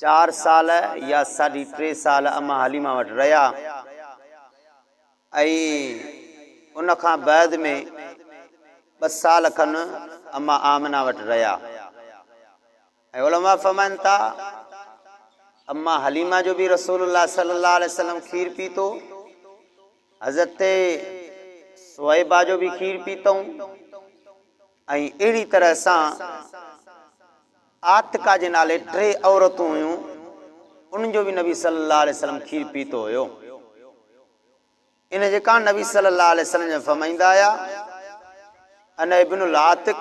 چار سال يا ساڍي ٽي سال اما حليمه وٽ رهيا ۽ ان کان بعد ۾ ٻه سال کن اما آمنه وٽ رهيا ۽ علماء فرمائن ٿا اما حليمه جو به رسول الله صلي الله عليه وسلم کير پيتو حضرت سوئبا جو به کير پيتو ۽ اهڙي طرح سان عاتڪه جي نالي ٽي عورتون هيون، انهن جو به نبي صلي الله عليه وسلم کير پيتو هيو. ان جي ڪا نبي صلي الله عليه وسلم جا فرمائيندا هيا، انا ابن العاتق،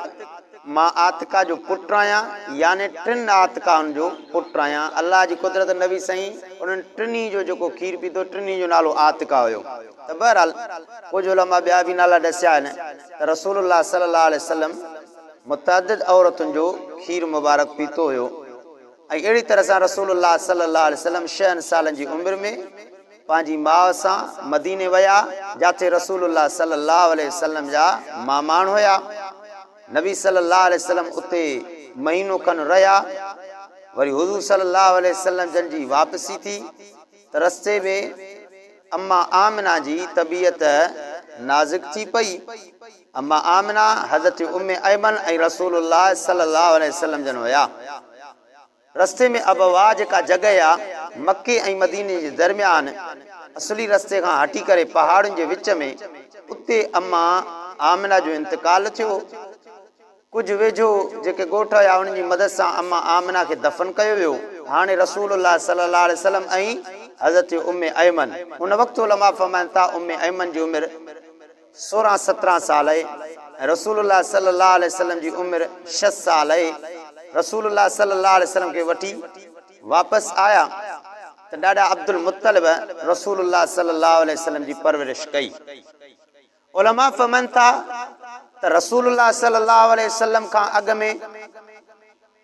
مان عاتڪه جو پٽ آهيان، يعني ٽن عاتڪائن جو پٽ آهيان. الله جي قدرت نبي سائين انهن ٽنهي جو جيڪو کير پيتو ٽنهي جو نالو عاتڪه هيو. ته بهرحال ڪجهه علماء ٻيا به نالا ڏسيا آهن ته رسول الله صلي الله عليه وسلم متعدد عورتن جو کير مبارڪ پيتو هيو ۽ اهڙي طرح سان رسول الله صلي الله عليه وسلم شهن سالن جي عمر ۾ پنهنجي ماء سان مديني ويا جاٿي رسول الله صلي الله عليه وسلم جا ماماڻ هيا نبي صلي الله عليه وسلم اتي مهينو کن رهيا وري حضور صلي الله عليه وسلم جن جي واپسي ٿي. ته رستي ۾ اما آمنه جي طبيعت نازڪ ٿي پئي. اما آمنه حضرت ام ايمن ۽ رسول الله صلي الله عليه وسلم جن هيا. رستي ۾ ابوا جيڪا جڳهه آ مڪي ۽ مديني جي درميان اصلي رستي کان هٽي ڪري پهاڙن جي وچ ۾ اتي اما آمنه جو انتقال ٿيو هو. ڪجهه ويجهو جيڪي ڳوٺ هيا انهن جي مدد سان اما آمنه کي دفن ڪيو ويو. هاڻي رسول الله صلي الله عليه وسلم ۽ حضرت ام ايمن ان وقت علماء فرمائن ٿا ام ايمن جي عمر سورهن سترهن سال هئي ۽ رسول الله صلي الله عليه وسلم جي عمر شست سال هئي رسول الله صلي الله عليه وسلم کي وٺي واپس آيا ته ڏاڏا عبدالمطلب رسول الله صلي الله عليه وسلم جي پرورش ڪئي. علماء فھمن ٿا ته رسول الله صلي الله عليه وسلم کان اڳ ۾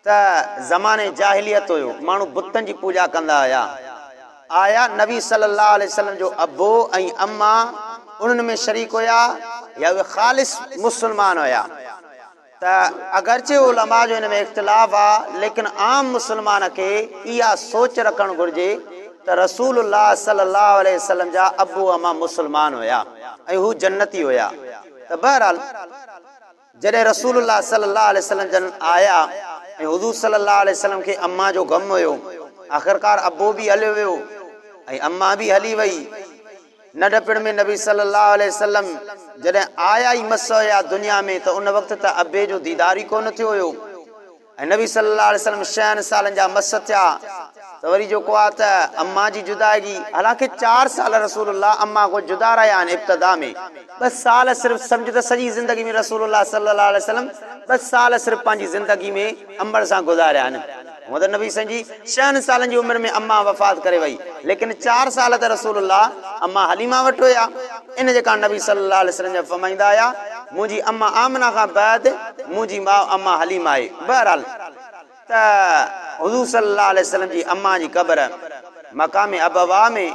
ته زمانه جاھليت ھيو، ماڻھو بتن جي پوڄا ڪندا ھيا، آيا نبي صلي الله عليه وسلم جو ابو ۽ اما انھن ۾ شريڪ ھيا يا اھي خالص مسلمان ھيا؟ ته اگرچه علماء جو ان ۾ اختلاف آ ليڪن عام مسلمان کي اها سوچ رکڻ گهرجي ته رسول الله صلي الله عليه وسلم جا ابو اما مسلمان هيا ۽ هو جنتي هيا ته بهرحال جڏهن رسول الله صلي الله عليه وسلم جن آيا ۽ حضور صلي الله عليه وسلم کي اما جو غم هيو آخرڪار ابو به هليو ويو ۽ اما به هلي وئي ننڍپڻ ۾ نبي صلّي اللّٰه عليه وسلّم جڏهن آيا ئي مس هيا دنيا ۾ ته ان وقت ته ابي جو ديدار ئي ڪونه ٿيو هيو ۽ نبي صلّي اللّٰه عليه وسلّم شهن سالن جا مس ٿيا ته وري جو ڪو آ ته اما جي جدائگي حالانڪه چار سال رسول الله اما کان جدا رهيا آهن ابتدا ۾ ٻه سال صرف سمجھ ته سڄي زندگي ۾ رسول الله صلّي اللّٰه عليه وسلّم ٻه سال صرف پنهنجي زندگي ۾ امڙ سان گذاريا آهن. هونء ته نبي سائين جي ڇهن سالن جي عمر ۾ اما وفات ڪري وئي ليڪن چار سال ته رسول الله اما حليمه وٽ هيا ان جي ڪاڻ نبي صلي الله عليه وسلم جا فرمائيندا هيا منهنجي اما آمنه کان بعد منهنجي ماء اما حليمه آهي بهرحال ته حضور صلي الله عليه وسلم جي اما جي قبر مقام ابواء ۾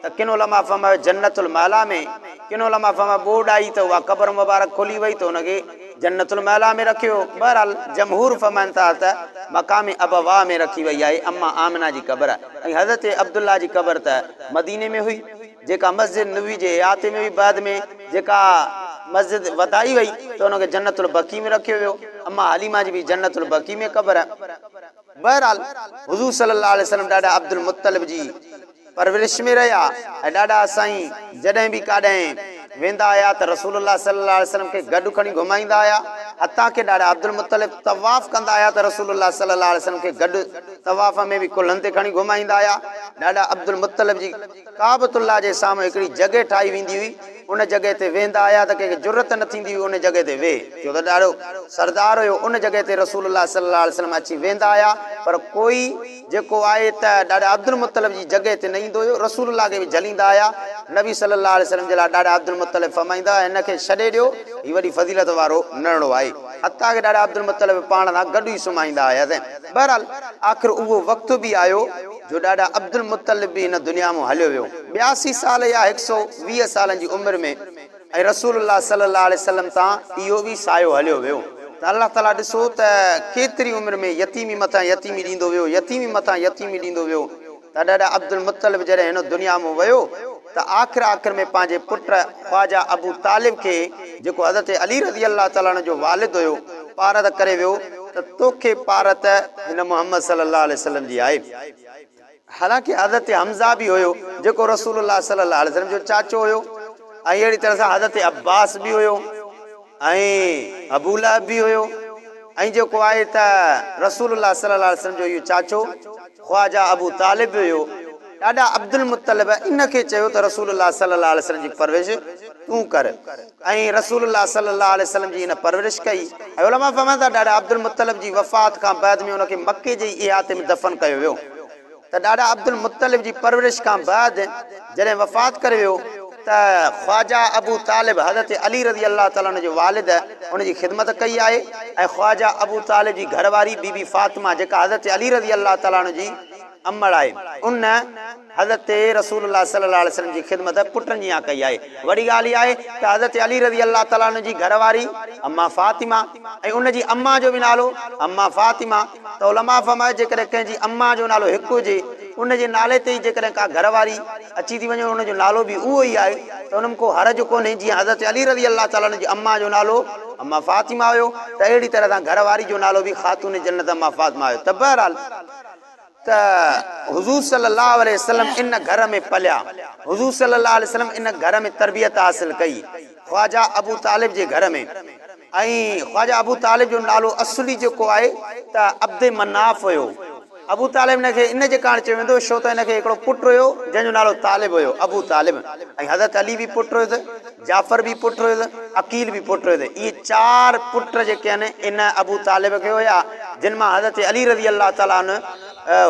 ته ڪن علماء فرمايو جنت المعليٰ ۾، ڪن علماء فرمايو ٻوڏ آئي ته اها قبر مبارڪ کلي وئي ته ان کي جنت المعليٰ ۾ رکيو ويو. بهرحال جمهور فرمائن ٿا ته مقام ابواء ۾ رکي وئي آهي. امّ آمنه جي قبر ۽ حضرت عبدالله جي قبر ته مديني ۾ هئي، جيڪا مسجد نبوي جي احاطي ۾ هئي، بعد ۾ جيڪا مسجد وڌائي وئي ته ان کي جنت البقيع ۾ رکيو ويو. امّ حليمه جي به جنت البقيع ۾ قبر آهي. بهرحال حضور صلّي اللّٰه عليه وسلّم ڏاڏا عبدالمطلّب جي. پرورش ۾ رهيا ۽ ڏاڏا سائين جڏهن به ڪاڏهن ويندا هيا ته رسول الله صلي الله عليه وسلم کي گڏ کڻي گهمائيندا هيا حتيٰ ڪي ڏاڏا عبدالمطلب طواف ڪندا هيا ته رسول الله صلي الله عليه وسلم کي گڏ طواف ۾ به ڪلهن تي کڻي گهمائيندا هيا ڏاڏا عبدالمطلب جي ڪعبت الله جي سامهون هڪڙي جڳهه ٺاهي ويندي هئي ان جڳهه تي ويهندا هيا ته ڪنهن کي جرئت نه ٿيندي هئي ان جڳهه تي ويهي ڇو ته ڏاڏو سردار هيو ان جڳهه تي رسول الله صلي الله عليه وسلم اچي ويهندا هيا پر ڪوئي جيڪو آهي ته ڏاڏا عبدالمطلب جي جڳهه تي نه ايندو هيو، رسول الله کي به جهليندا هيا، نبي صلي الله عليه وسلم جي لاء ڏاڏا عبدالمطلب فرمائيندا هئا هن کي ڇڏي ڏيو، هي وڏي فضيلت وارو نرڙو آهي، حتيٰ ڪه ڏاڏا عبدالمطلب پاڻ سان گڏ ئي سمهائيندا هياسين. بهرحال آخر اهو وقت به آيو جو ڏاڏا عبدالمطلب به هن دنيا مون هليو ويو. ٻياسي سال يا هڪ سؤ ويهه سالن جي عمر ۾. ۽ رسول الله صلي الله عليه وسلم تان اهو به سايو هليو ويو ته الله تعاليٰ ڏسو ته ڪيتري عمر ۾ يتيمي مٿان يتيمي ڏيندو ويو يتيمي مٿان يتيمي ڏيندو ويو ته ڏاڏا عبدالمطلب جڏهن هن دنيا مان ويو ته آخر آخر ۾ پنهنجي پٽ خواجه ابو طالب کي جيڪو حضرت علي رضي الله تعاليٰ عنه جو والد هيو پارت ڪري ويو ته توکي پارت هن محمد صلي الله عليه وسلم جي آهي. حالانڪ حضرت حمزه به هيو جيڪو رسول الله صلي الله عليه وسلم جو چاچو هيو ۽ اهڙي طرح سان حضرت عباس به هيو ۽ ابو لهب به هيو ۽ جيڪو آهي ته رسول الله صلي الله عليه وسلم جو اهو چاچو خواجه ابو طالب به هيو. ڏاڏا عبدالمطلب ان کي چيو ته رسول الله صلي الله عليه وسلم جي پرورش تون ڪر. ۽ رسول الله صلي الله عليه وسلم جي هن پرورش ڪئي ۽ علماء فرمائن ٿا ڏاڏا عبدالمطلب جي وفات کان بعد ۾ ان کي مڪي جي ئي احاطي ۾ دفن ڪيو ويو ته ڏاڏا عبدالمطلب جي پرورش کان بعد جڏهن وفات ڪري ويو ته خواجه ابو طالب حضرت علي رضي الله تعالٰي عنه جو والد ان جي خدمت ڪئي آهي ۽ خواجه ابو طالب جي گهر واري بي بي فاطمه جيڪا حضرت علي رضي الله تعالٰي عنه جي امڙ آهي ان حضرت رسول الله صلي الله عليه وسلم جي خدمت پٽن جيان ڪئي آهي. وڏي ڳالهه اها آهي ته حضرت علي رضي الله تعالٰي عنه جي گهر واري اما فاطمه ۽ ان جي اما جو به نالو اما فاطمه ته علماء فرمايو جيڪڏهن ڪنهن جي اما جو نالو هڪ هجي ان جي نالي تي ئي جيڪڏهن ڪا گهر واري اچي ٿي وڃي ان جو نالو به اهو ئي آهي ته ان ۾ ڪو حرج ڪونهي جيئن حضرت علي رضي الله تعالٰي عنه جي اما جو نالو اما فاطمه هيو ته اهڙي طرح سان گهر واري جو نالو به خاتون جنت اما فاطمه هيو ته بهرحال ته حضور صلي الله عليه وسلم ان گهر ۾ پليا، حضور صلي الله عليه وسلم ان گهر ۾ تربيت حاصل ڪئي، خواجه ابو طالب جي گهر ۾، ۽ خواجه ابو طالب جو نالو اصلي جيڪو آهي ته عبد مناف هيو، ابو طالب هن کي ان جي ڪارڻ چيو ويندو هو ڇو ته هن کي هڪڙو پٽ هيو جنهن جو نالو طالب هيو، ابو طالب، ۽ حضرت علي به پٽ هيس. جعفر به پٽ هيس، عقيل به پٽ هيس. اهي چار پٽ جيڪي آهن ان ابو طالب کي هيا جن مان حضرت علي رضي الله تعالٰي عنه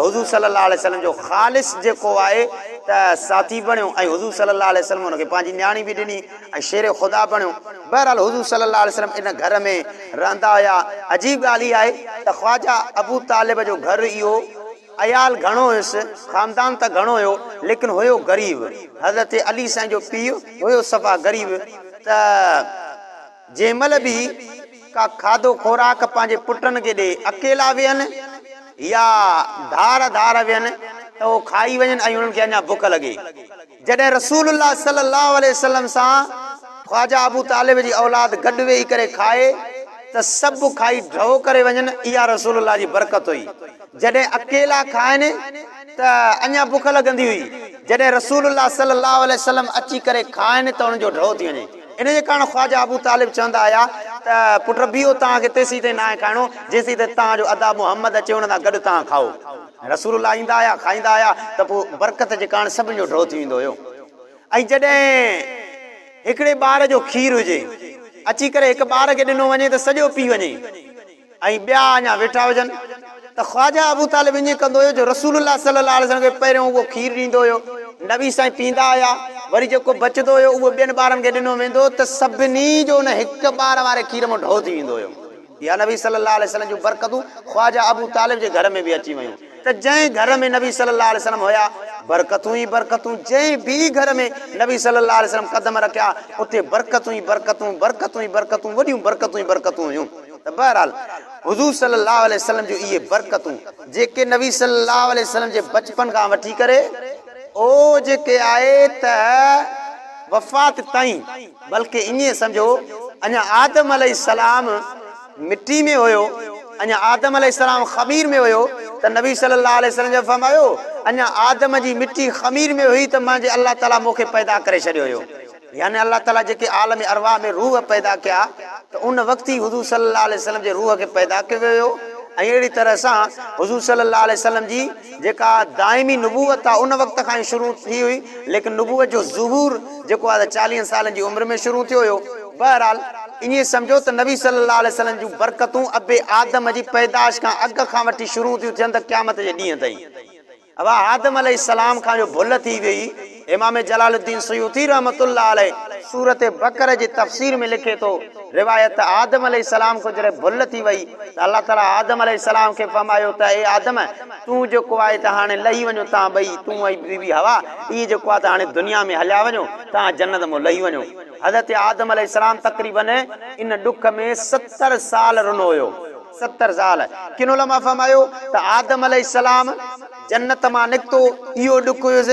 حضور صلي الله عليه وسلم جو خالص جيڪو آهي ته ساٿي بڻيو ۽ حضور صلي الله عليه وسلم ان کي پنهنجي نياڻي به ڏني ۽ شير خدا بڻيو. بهرحال حضور صلي الله عليه وسلم ان گهر ۾ رهندا هيا. عجيب ڳالهه اها آهي ته خواجه ابو طالب جو گهر اهو. عيال گهڻو هيس، خاندان ته گهڻو هيو، ليڪن هيو غريب. حضرت علي سائين جو پيء هيو صفا غريب ته جنهن مهل به ڪا کاڌو خوراڪ پنهنجي پٽن کي ڏئي، اڪيلا ويهن يا ڌار ڌار ويهن ته اهو کائي وڃن ۽ انهن کي اڃا بک لڳي. جڏهن رسول الله صلي الله عليه وسلم سان خواجه ابو طالب جي اولاد گڏ ويهي ڪري کائي ته سڀ کائي ڍؤ ڪري وڃن اها رسول الله جي برڪت هئي جڏهن اڪيلا کائن ته اڃا بک لڳندي هئي جڏهن رسول الله صلي الله عليه وسلم اچي ڪري کائن ته انهن جو ڍؤ ٿي وڃي ان جي ڪارڻ خواجه ابو طالب چوندا هيا ته پٽ بيهو توهان کي تيسين تائين ناهي کائڻو جيسين تائين توهان جو ادا محمد اچي ان سان گڏ توهان کائو. رسول الله ايندا آهيا، کائيندا آهيا ته پوء برڪت جي ڪارڻ سڀني جو ڍؤ ٿي ويندو هيو ۽ جڏهن هڪڙي ٻار جو کير هجي اچي ڪري هڪ ٻار کي ڏنو وڃي ته سڄو پي وڃي ۽ ٻيا اڃا ويٺا هجن ته خواجه ابو طالب ائين ڪندو هيو جو رسول الله صلي الله عليه وسلم کي پهريون اهو کير ڏيندو هيو نبي سائين پيندا هيا وري جيڪو بچندو هيو اهو ٻين ٻارن کي ڏنو ويندو ته سڀني جو ان هڪ ٻار واري کير مان ڍؤ ٿي ويندو هيو. يا نبي صلي الله عليه وسلم جون برڪتون خواجه ابو طالب جي گهر ۾ به اچي ويون ته جنهن گهر ۾ نبي صلي الله عليه وسلم هيا برڪتون ئي برڪتون جنهن به گهر ۾ نبي صلي الله عليه وسلم قدم رکيا اتي برڪتون ئي برڪتون برڪتون ئي برڪتون وڏيون برڪتون ئي برڪتون هيون ته بهرحال حضور صلي الله عليه وسلم جون اهي برڪتون جيڪي نبي صلي الله عليه وسلم جي بچپن کان وٺي ڪري او جيڪي آهي ته وفات تائين. بلڪ ائين سمجهو اڃا آدم عليه السلام مٽي ۾ هيو اڃا آدم عليه السلام خمير ۾ هيو ته نبي صلي الله عليه وسلم جي فرمايو اڃا آدم جي مٽي خمير ۾ هئي ته منهنجي الله تعالي مون کي پيدا ڪري ڇڏيو هيو يعني الله تعالي جيڪي عالم ارواح ۾ روح پيدا ڪيا ته ان وقت ئي حضور صلي الله عليه وسلم جي روح کي پيدا ڪيو ويو هيو ۽ اهڙي طرح سان حضور صلي الله عليه وسلم جي جيڪا دائمي نبوت آ ان وقت کان ئي شروع ٿي هئي ليڪن نبوت جو ظهور جيڪو آ چاليهن سالن جي عمر ۾ شروع ٿيو هيو بهرحال ائين سمجهو ته نبي صلي الله عليه وسلم جون برڪتون اب آدم جي پيدائش کان اڳ کان وٺي شروع ٿيون ٿين ته قيامت جي ڏينهن تائين اها آدم عليه السلام کان جو ڀل ٿي ويئي امام جلال الدين سيوطي رحمة الله عليه سورة بقرة جي تفسير ۾ لکي ٿو، روايت ته آدم عليه السلام کان جڏهن ڀل ٿي وئي ته الله تعاليٰ آدم عليه السلام کي فرمايو ته اي آدم! تون جيڪو آهي ته هاڻي لهي وڃو توهان ٻئي، تون ۽ بي بي حوا، اهي جيڪو آهي ته هاڻي دنيا ۾ هليا وڃو، توهان جنت مان لهي وڃو. حضرت آدم عليه السلام تقريباً ان ڏک ۾ ستر سال رنو هيو. ستر سال. ڪن علماء فرمايو ته آدم عليه السلام. جنت مان نڪتو اهو ڏک هيس،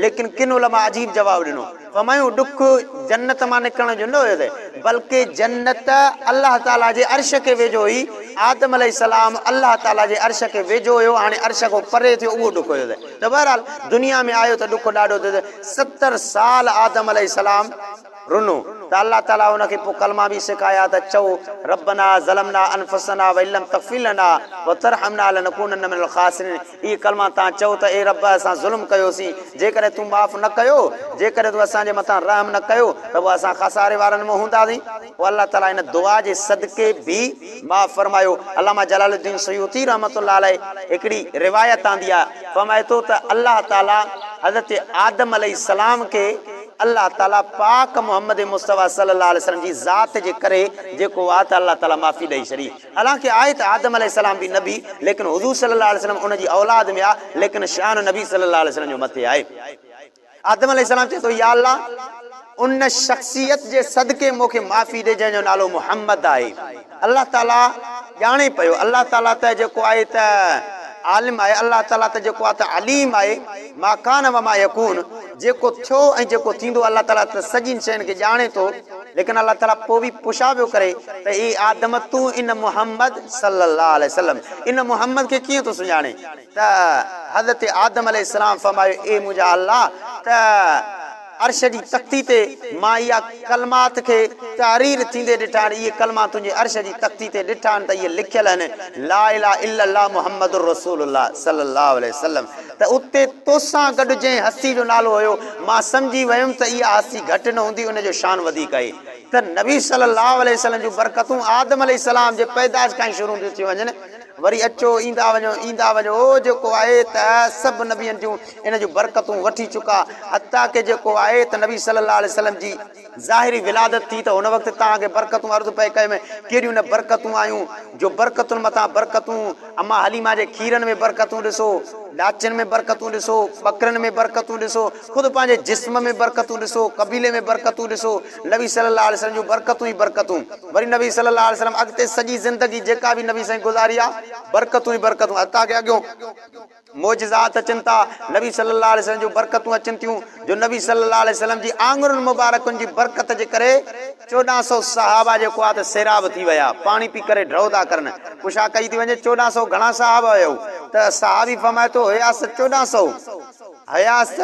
ليڪن ڪن علماء عجيب جواب ڏنو، فهمايون ڏک جنت مان نڪرڻ جو نه هيس، بلڪ جنت الله تعاليٰ جي عرش کي ويجهو هئي، آدم عليه السلام الله تعاليٰ جي عرش کي ويجهو هيو، هاڻي عرش کان پري ٿيو اهو ڏک هيس، ته بهرحال دنيا ۾ آيو ته ڏک ڏاڍو ٿيس، ستر سال آدم عليه السلام. رنو ته الله تعالي ان کي پوء ڪلما به سکايا ته چئو ربنا ظلمنا انفسنا وان لم تغفر لنا وترحمنا لنڪونن من الخاسرين اهي ڪلما تان چئو ته اي رب اسان ظلم ڪيوسين جيڪڏهن تون معاف نه ڪيو جيڪڏهن تون اسان جي مٿان رحم نه ڪيو ته پوء اسان خساري وارن مان هونداسين. پوء الله تعالي ان دعا جي صدقي به معاف فرمايو علامه جلال الدين سيوطي رحمة الله عليه هڪڙي روايت آندي آهي فرمائي ٿو ته الله تعالي حضرت آدم عليه السلام کي الله تعالي پاڪ محمد مصطفي صلي الله عليه وسلم جي ذات جي ڪري جيڪو آ ته الله تعالي معافي ڏئي ڇڏي حالانڪه آهي ته آدم عليه السلام به نبي ليڪن حضور صلي الله عليه وسلم ان جي اولاد ۾ آ ليڪن شان نبي صلي الله عليه وسلم جو مٿي آهي آدم عليه السلام چئي ٿو يا الله ان شخصيت جي صدقي مون کي معافي ڏي جنهن جو نالو محمد آهي. الله تعاليٰ ڄاڻي پيو، الله تعاليٰ ته جيڪو آهي ته عالم آهي، الله تعاليٰ ته جيڪو آهي ته عليم آهي، ما ڪان وما يڪون، جيڪو ٿيو ۽ جيڪو ٿيندو، الله تعاليٰ ته سڄين شين کي ڄاڻي ٿو، ليڪن الله تعاليٰ پوء به پڇا پيو ڪري ته اي آدم تون ان محمد صلّي اللّٰه عليه وسلّم ان محمد کي ڪيئن ٿو سڃاڻين ته حضرت آدم عليه السّلام فرمايو اي منهنجا الله ته عرش جي تختي تي مان اها ڪلمات کي تحرير ٿيندي ڏٺا آهن، اهي ڪلما تنهنجي عرش جي تختي تي ڏٺا آهن ته اهي لکيل آهن، لا اله الا الله محمد رسول الله صلي الله عليه وسلم ته اتي توسان گڏ جنهن هستي جو نالو هيو، مان سمجهي ويم ته اها هستي گهٽ نه هوندي ان جو شان وڌيڪ آهي ته نبي صلي الله عليه وسلم جون برڪتون آدم عليه السلام جي پيدائش کان ئي شروع ٿيون ٿي وڃن. وري اچو ايندا وڃو ايندا وڃو او جيڪو آئي ته سڀ نبين جون ان جون برڪتون وٺي چڪا حتيٰ ڪه جيڪو آئي ته نبي صلي الله عليه وسلم جي ظاهري ولادت ٿي ته هن وقت تان اڳي برڪتون عرض پئي ڪيم ڪهڙيون نه برڪتون آيون جو برڪتن مٿان برڪتون اما حليمه جي کيرن ۾ برڪتون ڏسو ڏاچن ۾ برڪتون ڏسو ٻڪرين ۾ برڪتون ڏسو خود پنهنجي جسم ۾ برڪتون ڏسو، قبيلي ۾ برڪتون ڏسو، نبي صلي الله عليه وسلم جون برڪتون ئي برڪتون، وري نبي صلي الله عليه وسلم اڳتي سڄي زندگي جيڪا به نبي سائين گذاري آ، برڪتون ئي برڪتون، حتيٰ ڪي اڳيون معجزات اچن ٿا، نبي صلي الله عليه وسلم جون برڪتون اچن ٿيون، جو نبي صلي الله عليه وسلم جي آڱرين مبارڪن جي برڪت جي ڪري، چوڏهن سؤ صحابه جيڪو آ ته سيراب ٿي ويا، پاڻي پي ڪري ڍؤ ٿا ڪرن، پڇا ڪئي ٿي وڃي چوڏهن سؤ گهڻا صحابه هيؤ؟ ته صحابي فرمائي ٿو، هياس چوڏهن سؤ. حياست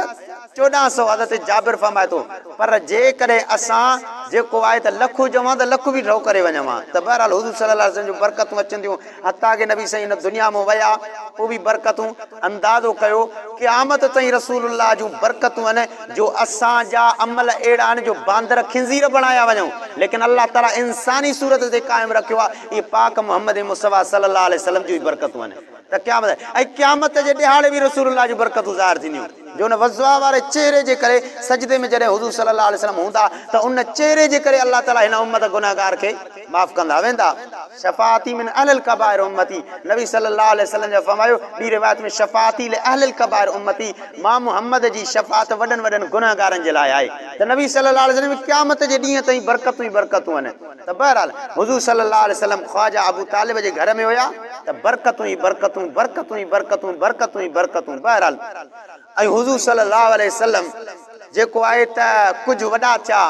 چوڏهن سؤ حضرت جابر فرمائي ٿو، پر جيڪڏهن اسان جيڪو آهي ته لک هجون ها ته لک به ڍؤ ڪري وڃون ها ته بهرحال حضور صلي الله عليه وسلم جون برڪتون اچن ٿيون حتيٰ ڪه نبي سائين هن دنيا مون ويا پوء به برڪتون اندازو ڪيو قيامت تائين رسول الله جون برڪتون آهن جو اسان جا عمل اهڙا آهن جو باندر خنزير بڻايا وڃون ليڪن الله تعالي انساني صورت تي قائم رکيو آهي اهي پاڪ محمد مصطفيٰ صلي الله عليه وسلم جون ئي برڪتون آهن. ته قيامت ۽ قيامت جي ڏهاڙي به رسول الله جون برڪتون ظاهر ٿينديون جو ان وضعا واري چهري جي ڪري سجدي ۾ جڏهن حضور صلي الله عليه وسلم هوندا ته ان چهري جي ڪري الله تعالي هن امت گنهگار کي معاف ڪندا ويندا شفاعتي من اهل الڪبائر امتي نبي صلي الله عليه وسلم جا فرمايو ٻي روايت ۾ شفاعتي لاهل الڪبائر امتي مان محمد جي شفاعت وڏن وڏن گنهگارن جي لاء آهي ته نبي صلي الله عليه وسلم قيامت جي ڏينهن تائين برڪتون ئي برڪتون آهن. ته بهرحال حضور صلي الله عليه وسلم خواجه ابو طالب جي گهر ۾ هيا ته برڪتون ئي برڪتون برڪتون ئي برڪتون برڪتون ئي برڪتون بهرحال ۽ حضور صلي الله عليه وسلم جيڪو آهي ته ڪجهه وڏا ٿيا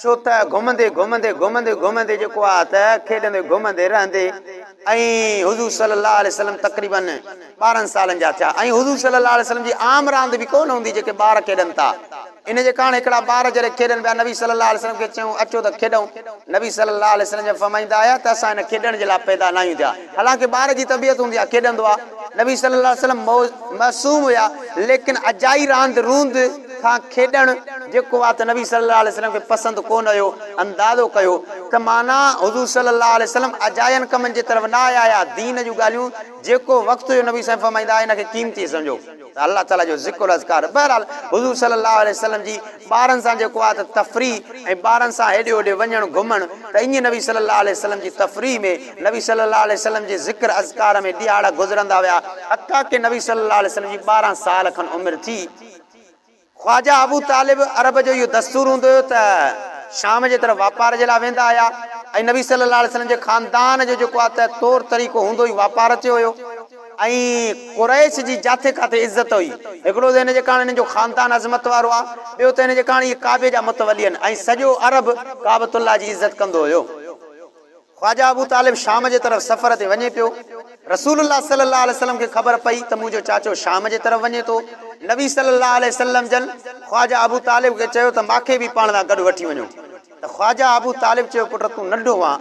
ڇو ته گهمندي گهمندي گهمندي گهمندي جيڪو آهي ته کيڏندي گهمندي رهندي ۽ حضور صلي الله عليه وسلم تقريباً ٻارهن سالن جا ٿيا ۽ حضور صلي الله عليه وسلم جي عام راند به ڪونه هوندي جيڪي ٻار کيڏن ٿا ان جي ڪاڻ هڪڙا ٻار جڏهن کيڏن پيا نبي صلي الله عليه وسلم کي چيون اچو ته کيڏون نبي صلي الله عليه وسلم جب فرمائيندا هيا ته اسان هن کيڏڻ جي لاء پيدا ناهيون ٿيا حالانڪه ٻار جي طبيعت هوندي آهي کيڏندو آهي نبي صلي الله عليه وسلم معصوم هيا ليڪن اجائي راند روند کان کيڏڻ جيڪو آ ته نبي صلي الله عليه وسلم کي پسند ڪو نه هيو اندازو ڪيو ته معنيٰ حضور صلي الله عليه وسلم اجاين ڪمن جي طرف نه آيا هيا دين جون ڳالهيون جيڪو وقت هيو نبي سائين فرمائيندا هن کي قيمتي سمجهو ته الله تعالي جو ذڪر اذڪار بهرحال حضور صلي الله عليه وسلم جي ٻارن سان جيڪو آ ته تفريح ۽ ٻارن سان هيڏي هوڏي وڃڻ گهمڻ ته ائين نبي صلي الله عليه وسلم جي تفريح ۾ نبي صلي الله عليه وسلم جي ذڪر اذڪار ۾ ڏهاڙا گذرندا ويا حتيٰ ڪي نبي صلي الله عليه وسلم جي ٻارهن سال کن عمر ٿي خواجه ابو طالب عرب جو اهو دستور هوندو هيو ته شام جي طرف واپار جي لاء ويندا هيا ۽ نبي صلي الله عليه وسلم جي خاندان جو جيڪو آهي ته طور طريقو هوندو ئي واپار تي هيو ۽ قريش جي جاٿي ڪاٿي عزت هئي هڪڙو ته ان جي ڪاڻ هنن جو خاندان عظمت وارو آهي ٻيو ته هن جي ڪاڻ اهي ڪعبي جا متولي آهن ۽ سڄو عرب ڪعبة الله جي عزت ڪندو هيو. خواجه ابوطالب شام جي طرف سفر تي وڃي پيو. رسول الله صلي الله عليه وسلم کي خبر پئي ته منهنجو چاچو شام جي طرف وڃي ٿو. نبي صلي الله عليه وسلم جن خواجه ابوطالب کي چيو ته مان کي به پاڻ سان گڏ وٺي وڃو ته خواجه ابوطالب چيو پٽ تون ننڍو آن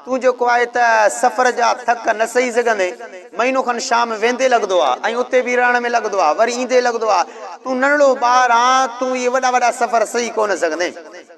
تون جيڪو آهي ته سفر جا ٿڪ نه سهي سگهندين. مهينو کن شام ويندي لڳندو آهي ۽ اتي به رهڻ ۾ لڳندو آهي وري ايندي لڳندو آهي. تون ننڍڙو ٻار آن تون اهي وڏا وڏا سفر سهي ڪونه سگهندين.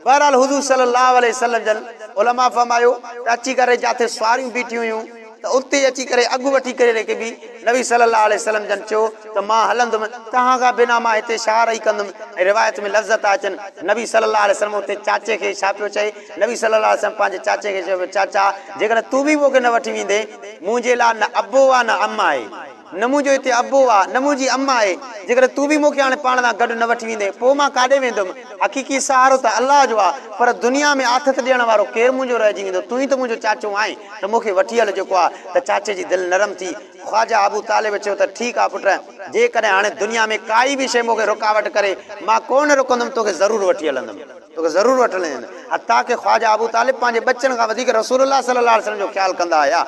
بهرحال حضور صلي الله عليه وسلم جن علماء فرمايو ته اچي ڪري جاٿي سواريون بيٺيون هيون ته اتي اچي ڪري اڳ وٺي ڪري رڪبي، نبي صلي الله عليه وسلم جن چيو ته مان هلندم توهان کان بنا مان هتي ڇا رهي ڪندم ۽ روايت ۾ لفظ ٿا اچن نبي صلي الله عليه وسلم اتي چاچي کي ڇا پيو چئي نبي صلي الله عليه وسلم پنهنجي چاچي کي چيو چاچا جيڪڏهن تون به مون کي نه وٺي ويندين منهنجي لاء نه ابو آ نه ام آهي. نه منهنجو هتي ابو آ، نه منهنجي اما آهي. جيڪڏهن تون به مون کي هاڻي پاڻ سان گڏ نه وٺي ويندين، پوء مان ڪاڏي ويندم؟ حقيقي سهارو ته الله جو آ، پر دنيا ۾ آٿت ڏيڻ وارو ڪير منهنجو رهجي ويندو؟ تون ئي ته منهنجو چاچو آهين، ته مون کي وٺي هل. جيڪو آ ته چاچي جي دل نرم ٿي. خواجه ابو طالب چيو ته ٺيڪ آ پٽ، جيڪڏهن هاڻي دنيا ۾ ڪائي به شيء مون کي رڪاوٽ ڪري، مان ڪو نه رڪندم، توکي ضرور وٺي هلندم. توکي ضرور وٺڻي آهن. حتيٰ ڪه خواجه ابو طالب پنهنجي ٻچن کان وڌيڪ رسول الله صلي الله عليه وسلم جو خيال ڪندا هيا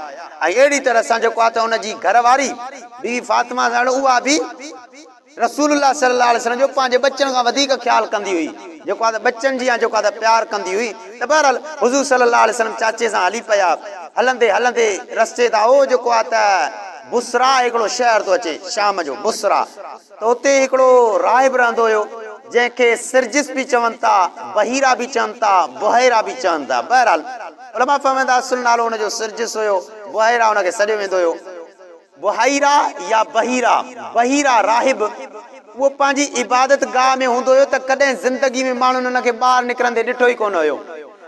۽ اهڙي طرح سان جيڪو آهي ته ان جي گهر واري بيبي فاطمه ساڻ اها به رسول الله صلي الله عليه وسلم جو پنهنجي ٻچن کان وڌيڪ خيال ڪندي هئي جيڪو آهي ته ٻچن جيان جيڪو آهي ته پيار ڪندي هئي ته بهرحال حضور صلي الله عليه وسلم چاچي سان هلي پيا هلندي هلندي رستي تان اهو جيڪو آهي ته بصريٰ هڪڙو شهر ٿو اچي شام جو بصريٰ ته اتي هڪڙو راهب رهندو هيو، جنهن کي سرجس به چون ٿا، بحيرا به چون ٿا، بحيرا به چون ٿا. بهرحال علماء فرمائن ٿا اصل نالو ان جو سرجس هيو، بحيرا ان کي سڏيو ويندو هيو. بحيرا يا بحيرا، بحيرا راهب، اهو پنهنجي عبادت گاهه ۾ هوندو هيو ته ڪڏهن زندگي ۾ ماڻهن ان کي ٻاهر نڪرندي ڏٺو ئي ڪونه هيو.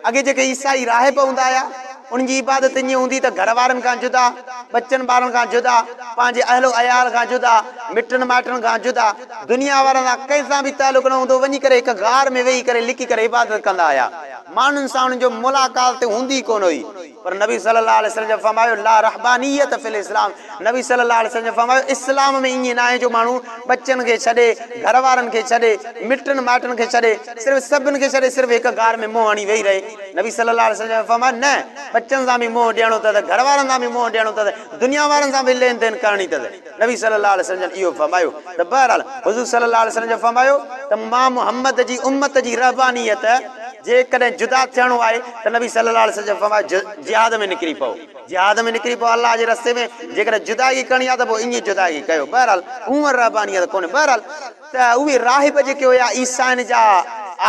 اڳي جيڪي عيسائي راهب هوندا هيا، انهن جي عبادت ائين هوندي ته گهر وارن کان جدا، ٻچن ٻارن کان جدا، پنهنجي اهل و عيال کان جدا، مٽن مائٽن کان جدا، دنيا وارن سان ڪنهن سان به تعلق نه هوندو، وڃي ڪري هڪ غار ۾ ويهي ڪري لڪي ڪري عبادت ڪندا هيا. ماڻهن سان انهن جو ملاقات هوندي ئي ڪونه هئي. پر نبي صلّي اللّٰه عليه وسلّم جن فرمايو، لا رهبانيّة في الاسلام، نبي صلّي اللّٰه عليه وسلّم جن فرمايو، اسلام ۾ ائين ناهي جو ماڻهو ٻچن کي ڇڏي، گهر وارن کي ڇڏي، مٽن مائٽن کي ڇڏي، صرف سڀن کي ڇڏي صرف هڪ غار ۾ منهن هڻي ويهي رهي. نبي صلّي اللّٰه عليه وسلّم جن فرمايو، نه، ٻچن سان به منهن ڏيڻو اٿس، گهر وارن سان به منهن ڏيڻو اٿس، دنيا وارن سان به لين دين ڪرڻي اٿس. نبي صلي الله عليه وسلم جن اهو فرمايو ته بهرحال حضور صلي الله عليه وسلم جن فرمايو ته مان محمد جي امت جي رهبانيت جيڪڏهن جدا ٿيڻو آهي ته نبي صلي الله عليه وسلم جن فرمايو جهاد ۾ نڪري پئو جهاد ۾ نڪري پئو الله جي رستي ۾ جيڪڏهن جدائي ڪرڻي آهي ته پوء ائين جدائي ڪيو بهرحال هونئن رهبانيت ڪونهي بهرحال ته اهي راهب جيڪي هيا عيسائين جا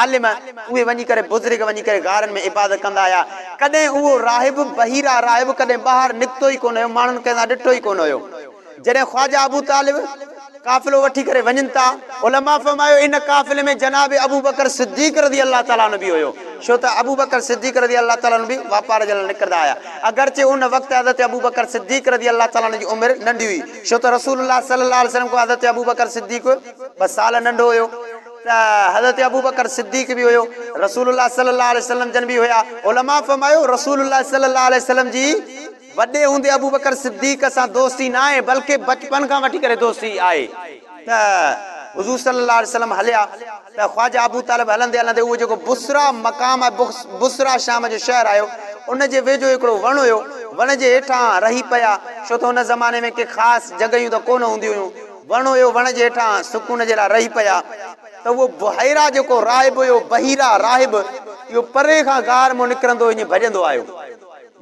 عالم اهي وڃي ڪري بزرگ وڃي ڪري غارن ۾ عبادت ڪندا هيا ڪڏهن اهو راهب بحيرا راهب ڪڏهن ٻاهر نڪتو ئي ڪونه هيو ماڻهن کي اسان ڏٺو ئي ڪونه هيو جڏهن خواجه ابو طالب قافلو وٺي ڪري وڃن ٿا علماء فرمايو ان قافلي ۾ جناب ابوبڪر صديق رضي الله تعالٰي عنه به هيو ڇو ته ابوبڪر صديق رضي الله تعالٰي عنه به واپار جي لاء نڪرندا هيا اگرچه ان وقت حضرت ابوبڪر صديق رضي الله تعالٰي عنه جي عمر ننڍي هئي ڇو ته رسول الله صلي الله عليه وسلم کان حضرت ابوبڪر صديق ٻه سال ننڍو هيو ته حضرت ابوبڪر صديق به هيو، رسول الله صلي الله عليه وسلم جن به هيا، علماء فرمايو رسول الله صلي الله عليه وسلم جي وڏي هوندي ابوبڪر صديق سان دوستي ناهي بلڪه بچپن کان وٺي ڪري دوستي آهي ته حضور صلي الله عليه وسلم هليا. ته خواجه ابوطالب هلندي هلندي اهو جيڪو بصره مقام آهي، بصره شام جو شهر آهيو، ان جي ويجهو هڪڙو وڻ هيو، وڻ جي هيٺان رهي پيا، ڇو ته ان زماني ۾ ڪي خاص جڳهيون ته ڪونه هونديون هيون، وڻ هيو، وڻ جي هيٺان سڪون جي لاء رهي پيا. ته اهو بحيره جيڪو راهب هيو، بحيره، راهب، اهو پري کان غار مان نڪرندو هيو ائين ڀڄندو آيو.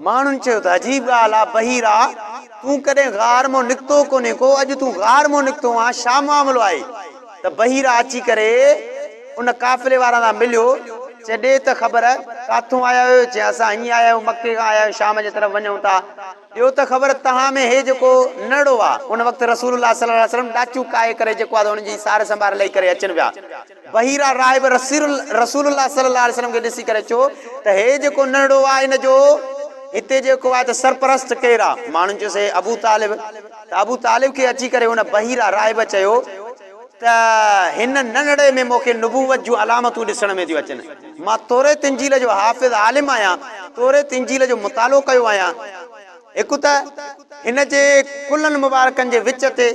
ماڻهن چيو ته عجيب ڳالهه آ بحيرا تون ڪڏهن غار مان نڪتو ڪونهين ڪو اڄ تون غار مان نڪتو آن ڇا معاملو آهي ته بحيرا اچي ڪري ان قافلي وارن سان مليو چي ڏي ته خبر ڪاٿون آيا آهيو چي اسان هيئن آيا آهيون مڪي کان آيا آهيون شام جي طرف وڃون ٿا ڏيو ته خبر تهان ۾ هي جيڪو نرڙو آ ان وقت رسول الله صلي الله عليه وسلم ڏاچو ڪاهي ڪري جيڪو آ ته ان جي سار سنڀار لئي ڪري اچن پيا بحيره راهب رسول الله صلي الله عليه وسلم کي ڏسي ڪري چيو ته هي جيڪو ننڍڙو آهي ان جو هتي جيڪو آهي ته سرپرست ڪير آهي؟ ماڻهن چيس هي ابو طالب ته ابو طالب کي اچي ڪري هن بحيره راهب چيو ته هن ننڍڙي ۾ مون کي نبوت جون علامتون ڏسڻ ۾ ٿيون اچن مان توريت انجيل جو حافظ عالم آهيان توريت انجيل جو مطالعو ڪيو آهيان هڪ ته هن جي ڪلهن مبارڪن جي وچ تي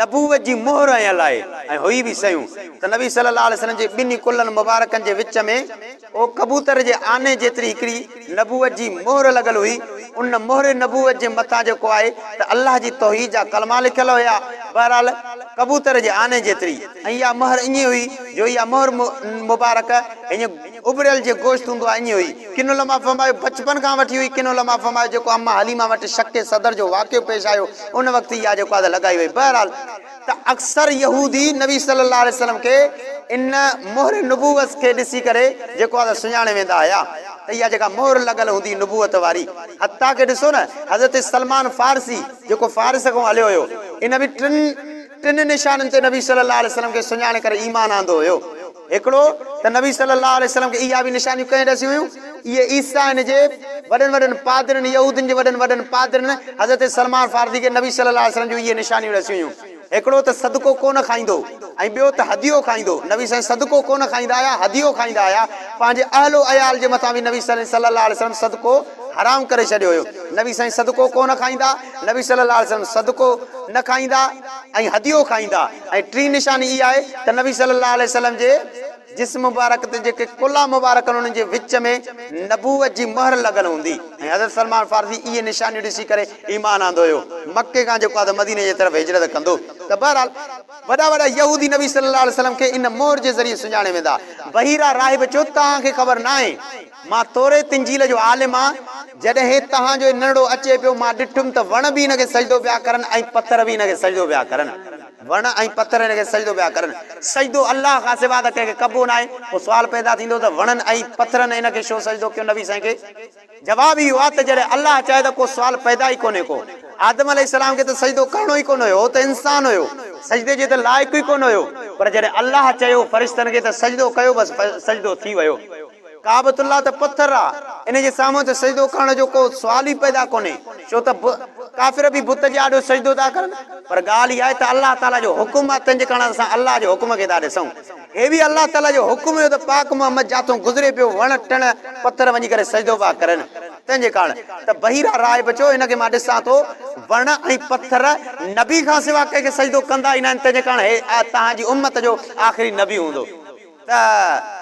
نبوت جي مهر هنيل آهي ۽ هئي به سيون ته نبي صلي الله عليه وسلم جي ٻنهي ڪلهن مبارڪن جي وچ ۾ او ڪبوتر جي آني جيتري هڪڙي نبوت جي مهر لڳل هئي ان مهر نبوت جي مٿان جيڪو آهي ته الله جي توحيد جا ڪلما لکيل هيا بهرحال ڪبوتر جي آني جيتري ۽ اها مهر ائين هئي جو اها مهر مبارڪ هيء اٻريل جي گوشت هوندو آهي ائين هئي ڪن علماء فرمايو بچپن کان وٺي هئي ڪن علماء فرمايو جيڪو اما حليمه وٽ شق صدر جو واقعو پيش آيو ان وقت ئي اها جيڪو آهي لڳائي وئي بهرحال ته اڪثر يهودي نبي صلي الله عليه وسلم کي ان مهر نبوت کي ڏسي ڪري جيڪو آهي سڃاڻي ويندا هيا ته اها جيڪا مهر لڳل هوندي نبوت واري حتيٰ ڪي ڏسو نه حضرت سلمان فارسي جيڪو فارس کان هليو هيو ان به ٽن ٽن نشانن تي نبي صلي الله عليه وسلم کي سڃاڻي ڪري ايمان آندو هيو. هڪڙو ته نبي صلّي اللّٰه عليه وسلّم کي اهي به نشانيون ڪنهن ڏسيون هيون؟ اهي عيسائين جي وڏن وڏن پادرين، يهودين جي وڏن وڏن پادرين، حضرت سلمان فارسي کي نبي صلّي اللّٰه عليه وسلّم جون اهي نشانيون ڏسيون هيون. هڪڙو ته صدقو ڪونه کائيندو ۽ ٻيو ته هديو کائيندو. نبي سائين صدقو ڪونه کائيندا هيا، هديو کائيندا هيا. پنهنجي اهل و عيال جي مٿان به نبي سائين صلّي اللّٰه عليه وسلّم صدقو حرام ڪري ڇڏيو هيو. نبي سائين صدقو ڪونه کائيندا. نبي صلي الله عليه وسلم صدقو نه کائيندا ۽ هديو کائيندا ۽ ٽين نشاني اها آهي ته نبي صلي الله عليه وسلم جي جسم مبارڪ تي جيڪي ڪلها مبارڪ آهن انهن جي وچ ۾ نبوت جي مهر لڳل هوندي ۽ حضرت سلمان فارسي اهي نشانيون ڏسي ڪري ايمان آندو هيو مڪي کان جيڪو آهي ته مديني جي طرف هجرت ڪندو ته بهرحال وڏا وڏا يهودي نبي صلي الله عليه وسلم کي ان مهر جي ذريعي سڃاڻي ويندا بحيرا راهب چيو توهان کي خبر ناهي. مان توريت انجيل جو عالم آهان، جڏهن توهان جو هي ننڍڙو اچي پيو، مان ڏٺم ته وڻ به هن کي سجدو پيا ڪرن ۽ پٿر به هن کي سجدو پيا ڪرن. وڻ ۽ پٿر هن کي سجدو پيا ڪرن. سجدو الله کان سوا ته ڪنهن کي ڪبو ناهي. پوء سوال پيدا ٿيندو ته وڻن ۽ پٿرن هن کي ڇو سجدو ڪيو نبي سائين کي؟ جواب اهو آهي ته جڏهن الله چاهي ته ڪو سوال پيدا ئي ڪونهي ڪو. آدم عليه السلام کي ته سجدو ڪرڻو ئي ڪونه هيو، هو ته انسان هيو، سجدي جي ته لائق ئي ڪونه هيو، پر جڏهن الله چيو فرشتن کي ته سجدو ڪيو بس سجدو ٿي ويو. ڪعبة الله ته پٿر آ ان جي سامهون ته سجدو ڪرڻ جو ڪو سوال ئي پيدا ڪونهي ڇو ته ڪافر به بت جي آڏو سجدو ٿا ڪرن پر ڳالهه اها آهي ته الله تعاليٰ جو حڪم آ تنهنجي ڪرڻ اسان الله جي حڪم کي ٿا ڏسون هي به الله تعاليٰ جو حڪم هيو ته پاڪ محمد جاٿون گذري پيو وڻ ٽڻ پٿر وڃي ڪري سجدو پيا ڪرن تنهنجي ڪرڻ ته بحيره راهب چيو هن کي مان ڏسان ٿو وڻ ۽ پٿر نبي کان سوا ڪنهن کي سجدو ڪندا ئي ناهن تنهنجي ڪرڻ هي تهان جي امت جو آخري نبي هوندو. ته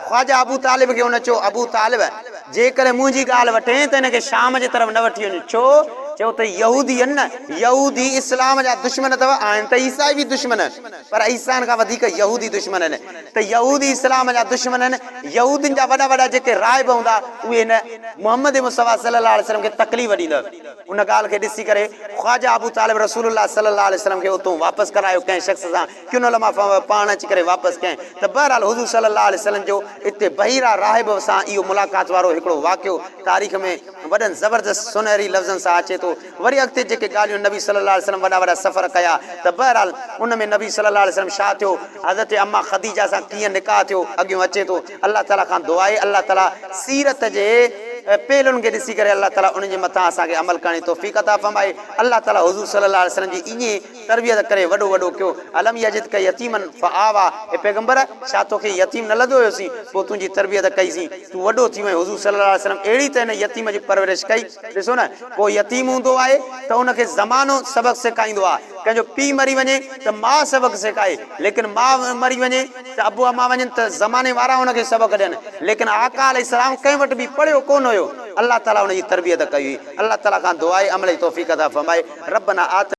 خواجه ابو طالب کي هن چيو، ابو طالب! جيڪڏهن منهنجي ڳالهه وٺين ته هن کي شام جي طرف نه وٺي وڃ. ڇو؟ چيو ته يهودي آهن نه، يهودي اسلام جا دشمن اٿو، آهن ته عيسائي به دشمن، پر عيسائين کان وڌيڪ يهودي دشمن آهن، ته يهودي اسلام جا دشمن آهن، يهودين جا وڏا وڏا جيڪي راهب هوندا اهي هن محمد مصطفيٰ صلّي اللّٰه عليه وسلّم کي تڪليف ڏيندا. ان ڳالهه کي ڏسي ڪري خواجه ابو طالب رسول الله صلّي اللّٰه عليه وسلّم کي اتون واپس ڪرايو ڪنهن شخص سان. ڪن علماء پاڻ اچي ڪري واپس ڪين ته بهرحال حضور صلي الله عليه وسلم جو اتي بحيره راهب سان اهو ملاقات وارو هڪڙو واقعو تاريخ ۾ وڏن زبردست سونهري لفظن سان اچي ٿو وري اڳتي جيڪي ڳالهيون نبي صلي الله عليه وسلم وڏا وڏا سفر ڪيا ته بهرحال ان ۾ نبي صلي الله عليه وسلم شا ٿيو حضرت اما خديجه سان ڪيئن نڪاح ٿيو اڳيون اچي ٿو الله تعالي کان دعائي الله تعالي سيرت جي پهلون کي ڏسي ڪري الله تعالي انهن جي مٿان اسان کي عمل ڪرڻ جي توفيق عطا فرمائي الله تعالي حضور صلي الله عليه وسلم جي اينهي تربيت ڪري وڏو وڏو ڪيو الم يجدڪ يتيما فآويٰ اي پيغمبر! ڇا توکي يتيم نه لڌو هيوسين پوء تنهنجي تربيت ڪئيسين تون وڏو ٿي وئين حضور صلي الله عليه وسلم اهڙي ته هن يتيم جي پرورش ڪئي ڏسو نه ڪو يتيم هوندو آهي ته ان کي زمانو سبق سيکائيندو آهي ڪنهن جو پيء مري وڃي ته ماء سبق سيکائي ليڪن ماء مري وڃي ته ابو اما وڃن ته زماني وارا ان کي سبق ڏين ليڪن آقا عليه السلام ڪنهن وٽ به پڙهيو ڪونه هيو الله تعالي ان جي تربيت ڪئي هئي الله تعالي کان دعا آهي عمل جي توفيق عطا فرمائي ربنا آتنا.